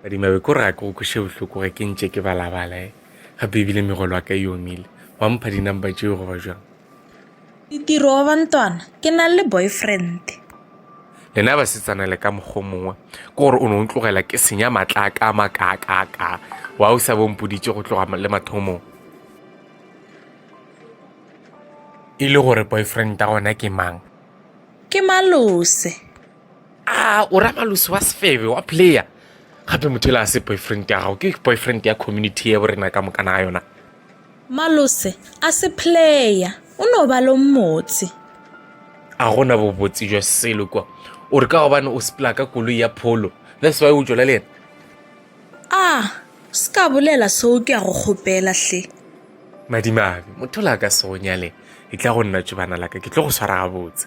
badima be ko raka go kweše bohloko ge ke ntše ke balabala e gape ebile megolo wa ka e omile wa mpha dinumber tšeo goba jwang ditiro wa bantwana ke na le boyfriend lena ba setsana le ka mokgo mongwe ke gore o ne o tlogela ke senya matla a ka makaakaka wa o sa bompoditše go tloga le mathomong e le gore boyfriend a gona ke mang ke malose a o ra malusi wa sefebe wa player gape motho e le a se boyfriend ya gago ke boyfriend ya community ya borena ka mokana ga yona malose a se player o no ba lo mmotse a gona bobotse jwa selo kwa o re ka gobane o sepela ka koloi ya pholo that's why o tšola le yena a se ka bolela seo ke ya go kgopela hle madimabe motho la ka se go nyale e tla go nna tšobana laka ke tlo go swara gabotse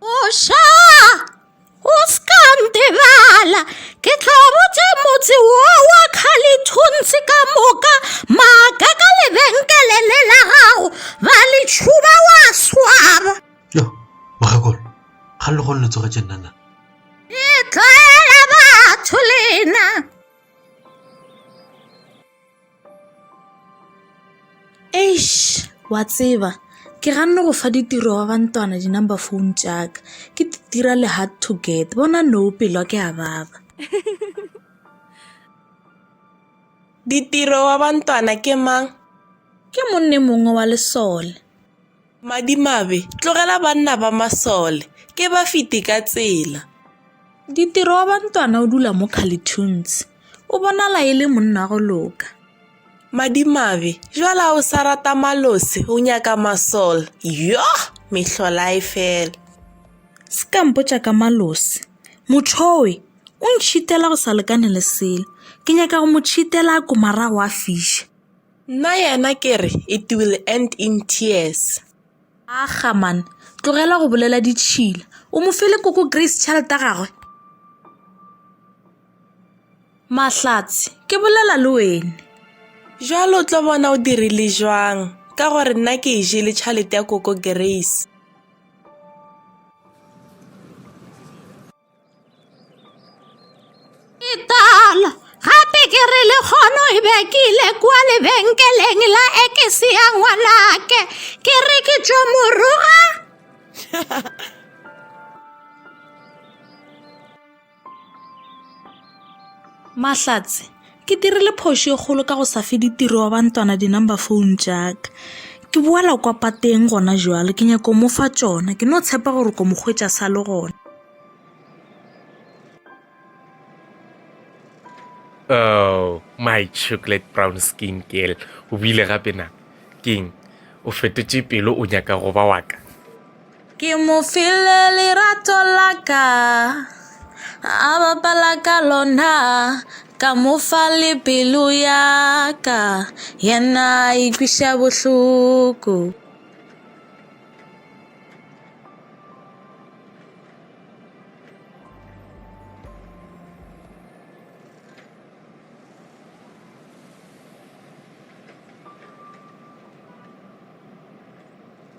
Oša, o ska ntebala, ke tlo botša motse wo wa kgalithuntshe ka moka maaka ka lebenkele le la gago ba le tšhuba wa swaba yo mogakolo ga le gone le tsogetše nnana le tlwaela batho lena Eish wa tseba ke ganne go fa ditiro ba bantwana di-number phone tšaka ke di dira le hard to get bona no pelwa ke a baba ditiro wa bantwana ke mang ke monne mongwe wa lesole Madimabe, tlogela banna ba masole, ke ba fete ka tsela. Ditiro wa bantwana o dula mo Calitunes, o bonala e le monna go loka. Madimabe, jwale a o sa rata malose, o nyaka masole, yoh, mehlolae fela. Se ka mpotša ka malose, mothoe, o ntšhitela go sa lekane le selo, ke nyaka go mo tšhitela a komarago a fiša. Nna yena ke re, It will end in tears. Aga, man, tlogela go bolela ditšhila. O mo file koko Grace tšhelete ya gagwe? Mahlatse, ke bolela le wene. Jwale o tlo bona o dirile jwang, ka gore nna ke e jele tšhelete ya koko Grace. Itala, gape ke re le kgono e be ke ile kwa lebenkeleng la ekese ya ngwanake ke re ke tšo moroga mahlatse Ke dirile phošo e kgolo ka go sa fe ditiro wa bantwana di-number phone tšaka ke boela kwa pateng gona jalo ke nyako mo fa tšona ke no tshepa gore ko mokgwetša sa le gona oh my chocolate brown skin girl o bile gape na keng o fetotše pelo o nyaka go ba waka Ke mo file lerato la ka A bapala ka lona Ka mo fa le pelo ya ka Yena a ikweša bohloko